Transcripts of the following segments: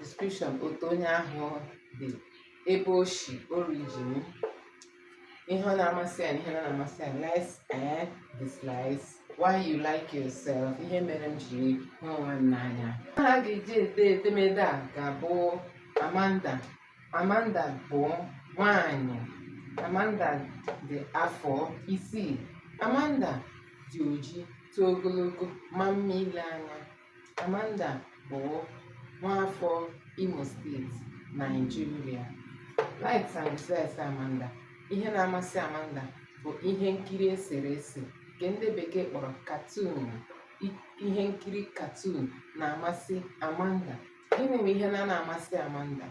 description otu onye ahụ dị ebe o si origin ihe ọ na-amasị ya na ihe ọ naghị amasị ya likes and dislikes why you like yourself ihe mere m jiri hụ onwe m n'anya aha a ga-eji ede edemede a ga-abụ Amanda Amanda bụ nwanyị Amanda dị afọ isii Amanda dị oji too ogologo maa mma ile anya Amanda bụ nwaafọ Imo State Naijiria likes and dislikes Amanda ihe na-amasị Amanda bụ ihe nkiri eserese nke ndị bekee kpọrọ cartoon ihe nkiri cartoon na-amasị Amanda gịnị bụ ihe na-anaghị amasị Amanda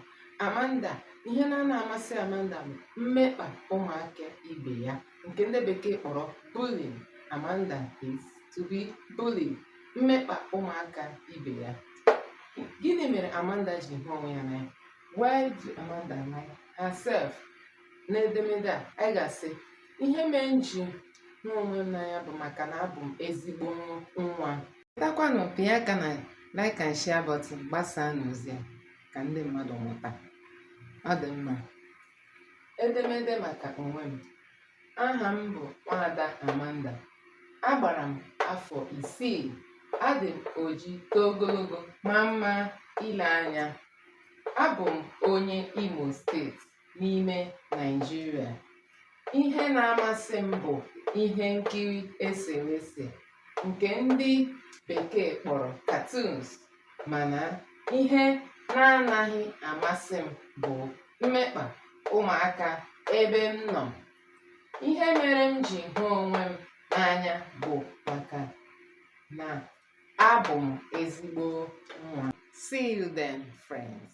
Amanda ihe na-anaghị amasị Amanda bụ mmekpa ụmụaka ibe ya nke ndị bekee kpọrọ bullying Amanda hates to be bullied mmekpa ụmụaka ibe ya. Gịnị mere Amanda ji hụ onwe ya n'anya? Why do Amanda like herself? N'edemede a, anyị ga-asị ihe mere m ji hụ onwe m n'anya bụ maka na abụ m ezigbo nwa. Chetakwanụ pịa aka na like and share button gbasaanụ ozi a ka ndị mmadụ mụta. Ọ dị mma. Edemede maka onwe m. Aha m bụ Nwaada Amanda. Agbara m afọ isii. Adị m oji too ogologo maa mma ile anya. Abụ m onye Imo steeti n'ime Naịjirịa. Ihe na-amasị m bụ ihe nkiri eserese nke ndị bekee kpọrọ cartoons. mana ihe na-anaghị amasị m bụ mmekpa ụmụaka ebe m nọ. Ihe mere m ji hụ onwe m n'anya bụ maka na abụ m ezigbo nwa. See you then, friends.